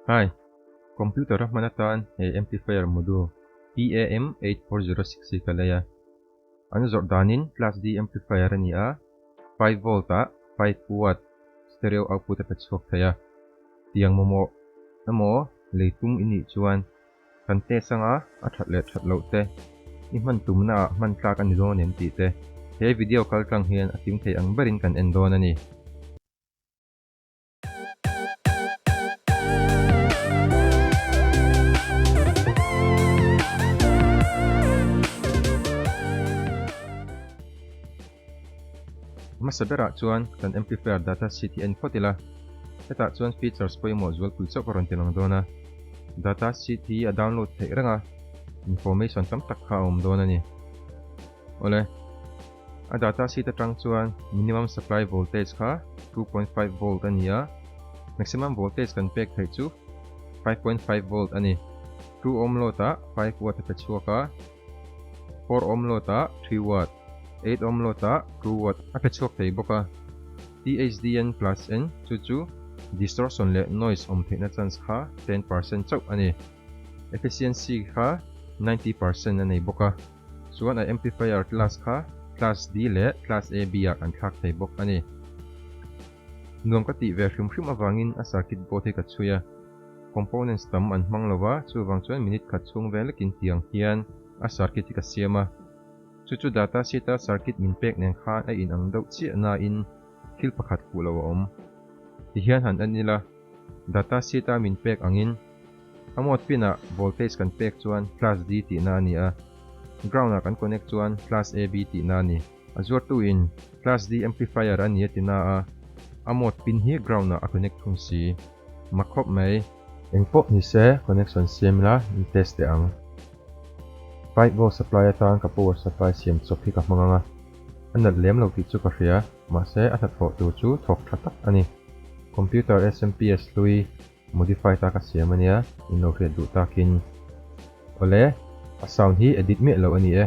Hi, computer a hman atan he amplifier modu PAM eight four zero six hi ka lei a, an zawrh danin class D amplifier a ni a, five volt ah five watt stereo output a pe chhuak thei a, tiang mamawh emaw lei tum i nih chuan kan test anga a that leh that loh te i hman tumna ah hman tlak a ni dawn em tih te he video kal tlang hian a tim thei ang berin kan en dawn a ni. Hmasa berah chuan kan amplifier data sheet hi a en phawt ila, hetah chuan features pawimawh zualpui chauh ka rawn ti lang dawn a. Data sheet hi a download theih renga information tam tak kha a awm dawn a ni. Awle. A data sheet atang chuan minimum supply voltage kha two point five volt a ni a, maximum voltage kan pek theih chu five point five volt a ni. Two ohm load ah five watt a pe chhuak a, four ohm load ah three watt, eight ohm load ah two watt a pe chhuak thei bawk a. THDN plus N chu chu distortion leh noise awm theihna chance kha ten percent chauh a ni. Efficiency kha ninety percent a nei bawk a. Chuan a amplifier class kha class D leh class AB ah kan thlak thei bawk a ni. Nuam ka tih ve hrim hrim avangin a circuit board hi ka chhui a, components tam an hmang lo va, chuvang chuan minute khat chhung ve lekin tiang hian a circuit hi ka siam a. Chu chu data sheet a circuit min pek nen khan a inang deuh chiah nain thil pakhat hmuh lo a awm. Tihian han en ila. Data sheet a min pek angin, a mode pin ah voltage kan pek chuan class D tihna a ni a, ground ah kan connect chuan class AB tihna a ni. A zuartu in class D amplifier a ni a ti na a, a mode pin hi ground ah a connect thung si ma khawp mai. Eng pawh ni se connection siam ila in test teh ang. Five volt supply atan ka power supply siam chawp hi ka hmang anga, a nalh lem lo tih chu ka hria. Mahse, a hnathawh tur chu thawk tha tak a ni. Computer SMPS hlui modify ta ka siam a nia, in lo hriat duh takin. Awle, a sound hi edit miah loh a ni e.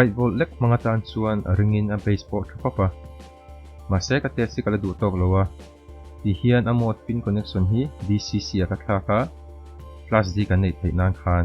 Right volt lek hmanga tan chuan a ringin a bass pawh tha khawp a. Mahse ka test hi ka la duh tawk lo a, tihian a mode pin connection hi DCC-a ka thlak a, class D kan neih theih nan khan.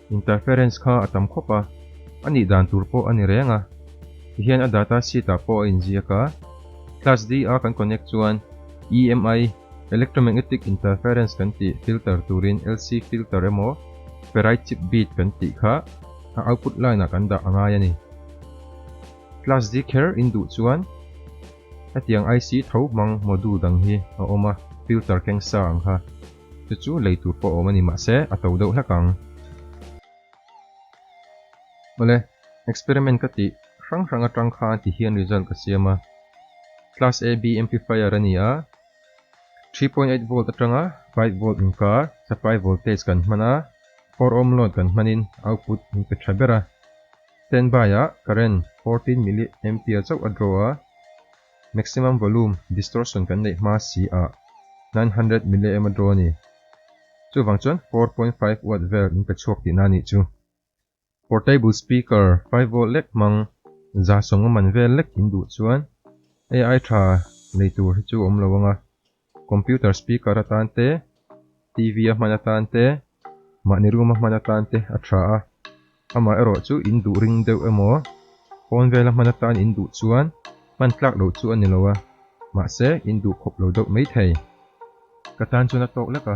Interference kha a tam khawp a, a nih dan tur pawh a ni reng a, ti hian a data sheet ah pawh a inziak a. Class D a kan connect chuan EMI, Electromagnetic Interference kan tih filter turin LC filter emaw ferrite chip bead kan tih kha a output line ah kan dah a ngai a ni. Class D kher in duh chuan hetiang IC tho hmang module dang hi a awm a, filter kengsa ang kha. Chu chu lei tur pawh a awm a ni mahse a to deuh hlek ang. Awle, experiment ka tih hrang hrang atang khan ti hian result ka siam a. Class AB amplifier a ni a, three point eight volt atanga five volt inkar supply voltage kan hman a, four ohm load kan hmanin output an pe tha ber a. Standby-ah current fourteen milliampere chauh a draw a. Maximum volume distortion kan neih hma si ah nine hundred milliamp a draw a ni. Chuvang chuan four point five watt vel in pe chhuak tihna anih chu. Portable speaker five volt lek hmang za sawngawm man vel lek in duh chuan ai tha nei tur hi chu awm lo ang a. Computer speaker atan te, TV a hman atan te, mahni room a hman atan te a tha a, amah erawh chu in duh ring deuh emaw, pawn vel a hman atan in duh chuan hman tlak loh chu a ni lo a, mahse in duh khawp lo deuh maithei. Ka tan chuan a tawk lek a.